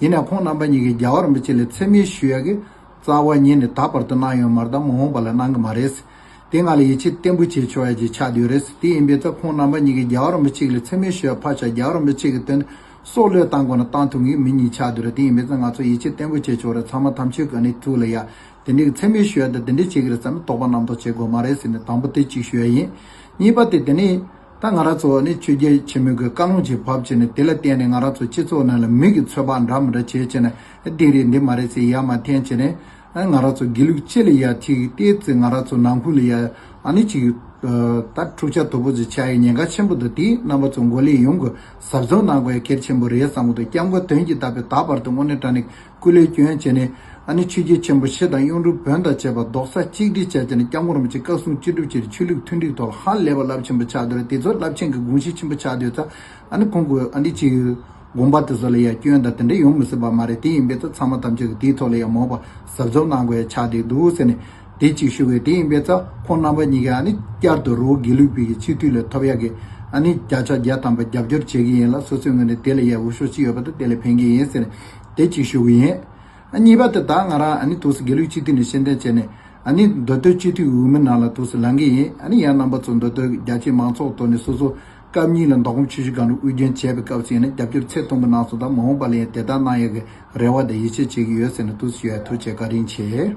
ཡིན་ནའང་ཁོང་རྣམ་པ་གཉིས་ཀྱིས་རྒྱ་བར་མི་གཅིག་ལ་འཚེ་མེད་ཞུ་ཡ་གི་རྩ་བ་ཉིད་ནས་ད་བར་དུ་གནང་ཡོང་མ་གཏོགས་མ་འོངས་པ་ལ་གནང་གི་མ་རེད། དེ་ང་ལ་ཡིད་ཆེས་བརྟན་པོ་བྱེད་ཆོག་ཡ་གཅིག་ཆགས་དུས་རེད། དེ་ཡིན་པའི་ཚེ་ཁོང་རྣམ་པ་གཉིས་ཀྱིས་རྒྱ་བར་མི་གཅིག་ལ་འཚེ་མེད་ཞུ་ཡ་ཕར་ཆགས་རྒྱ་བར་མི་གཅིག་གི་དོན་དུ་སྲོག་བློས་བཏང་དགོས་ན་བཏང་ཐུབ་ངེས་མི་གཉིས་ཆགས་དུས་རེད་དེ་ཡིན་པའི་ཚེ་ང་ཚོ་ཡིད་ཆེས་བརྟན་པོ་བྱེད་ཆོག་རེད་ཚང་མ་དམ་ཆོས་ཀྱི་གནས་ཚུལ་ལ་ཡ་དེ་འདྲའི་གི་འཚེ་མེད་ཞུ་ཡ་དེ་དེ་འདྲའི་བྱེད་གི་རེད་བསམ་པའི་དོགས་པ་རྣམ་རྟོག་བྱེད་དགོས་མ་རེད་ཟེར་ནས་དང་པོ་དེ་གཅིག་ཞུ་ཡ་ཡིན། གཉིས་པ་དེ་དེ་ནི། ད་ང་རང་ཚོ་བ་ནི་ཆོས་རྒྱལ་ཆེན་མོའི་གི་བཀའ་ལུང་ཅིག་བབ་ཅེས་ནས་དེ་ལ་བརྟེན་ནས་ང་རང་ཚོ་སྤྱི་ཚོགས་ནང་ལ་མིག་གི་ཚོད་དཔག་འདྲ་མི་འདྲ་བྱེད་ཅེས་ནས་འདི་རེད་འདི་མ་རེད་ཟེར་ཡ་མ་འཐེན་ཅེས་ནས། ང་རང་ཚོ་དགེ་ལུགས་སྤྱི་ལ་ཡ་ཅིག་བལྟས་ཚེ་ང་རང་ཚོ་ནང་ཁུལ་ལ་ཡ་ནི་ཅིག། ད་འཁྲུག་ཆ་དོད་པོ་ཅིག་ཆགས་ཡས་ཉེན་ཁ་ཆེན་པོ་འདུག་དེ་རྣམ་པ་ཚོ་མགོ་ལས་ཡོང་གི་ཟབ་སྦྱོང་གནང་དགོས་ཡ་ཁྱེར་ཆེན་པོ་རེད་བསམ་གི་འདུག་སྐྱབས་མགོན་དོན་གྱིས་བཏབ་པའི་ད་བར་དུ་དངོས་གནས་དྲ་ནས་སྐུ་ལས་བསྐྱོན་བྱས་ནས་ཨ་ནི་ཆོས་རྒྱལ་ཆེན་པོ་ཕྱེད་དང་གཡུང་དྲུང་བོན་དང་བཅས་པ་རྡོག་རྩ་གཅིག་སྒྲིལ་བྱས་བྱས་ནས་སྐྱབས་མགོན་རིན་པོ་ཆེ་བཀའ་སྲུང་སྤྱི་སྒྲུབ་བྱས་ཏེ་ཆོས་ལུགས་མཐུན་སྒྲིག་ཐོག་ལ་ཧ་ལས་པ་རླབས་ཆེན་པོ་ཆགས་འདོད་རེད་དེ་ཚོ་རླབས་ཆེན་གྱི་དགོངས་གཞི་ཆེན་པོ་ཆགས་འདོད་ཙང་ཨ་ནི་ཁོང་གི་ཨ་འདི་ཅི་ཡོད། དགོངས་པ་དེ་ཚོ་ལ་ཡ་སྐྱོན་དང་དེ་འདྲ་ཡོང་མི་སྲིད་པ་མ་རེད་དེ་ཡིན་པས་ཙང་ཚང་མ་ཐམས་ཅད་ཀྱི་དེའི་ཐོག་ལ་ཡང་མོས་པ་ཟབ་ཟབ་གནང་དགོས་ཡ་ཆགས་བསྡད་འདུག་ཟེར་ནས་དེ་གཅིག་ཞུ་བས་དེ་ཡིན་པས་ཙང་ཁོང་རྣམ་པ་གཉིས་ཀས་ཨ་ནི་བསྐྱར་དུ་རི་བོ་དགེ་ལུགས་བོད་ཀྱི་སྤྱི་འཐུས་ལས་ཐོབ་ཡག་གི་ཨ་ནི་བརྒྱ་ཆ་བརྒྱ་ཐམ་པ་རྒྱབ་སྐྱོར་བྱེད་ཀྱི་ཡིན་ལ་སོ་སོའི་ངོས་ནས་དེ་ལ་ཡ་འུར་ཤོག་ཅི་ཡོད་པ་དང་དེ་ལ་ཕན་གྱི་ཡིན་ཟེར་ནས། དེ་གཅིག་ཤོས་ཀྱི་ཡིན། གཉིས་པ་དེ་དག་ང་རང་ཨ་ནི་དུས་སུ་དགེ་ལུགས་སྤྱི་འཐུས་ནས་ཤེས་འདོན་བྱས་ནས་ཨ་ནི་མདོ་སྟོད་སྤྱི་འཐུས་འོས་མི་ནང་ལ་དུས་སུ་ལངས་ཀྱི་ཡིན་ཨ་ནི་ཡང་རྣམ་པ་ཚོ་མདོ་སྟོད་ཀྱི་རྒྱ་ཆེའི་མང་ཚོགས་དོར་ནས་སོ་སོ་སྐབས་གཉིས་ལ་མདོ་ཁམས་ཆུ་བཞི་སྒང་དྲུག་དབུས་རྒྱན་བྱས་པའི་སྐབས་སུ་ཡིན་ན་རྒྱབ་སྐྱོར་ཚད་མཐོན་པོ་གནང་སོང་དང་མ་འོངས་པ་ལ་ཡང་དེ་ལྟར་གནང་ཡོད་ཀྱི་རེ་བ་དང་ཡིད་ཆེས་བྱེད་ཀྱི་ཡོད་ཟེར་ནས་དུས་སུ་ཞུ་ཡ་ཐུགས་ཆེ་བཀའ་དྲིན་ཆེ།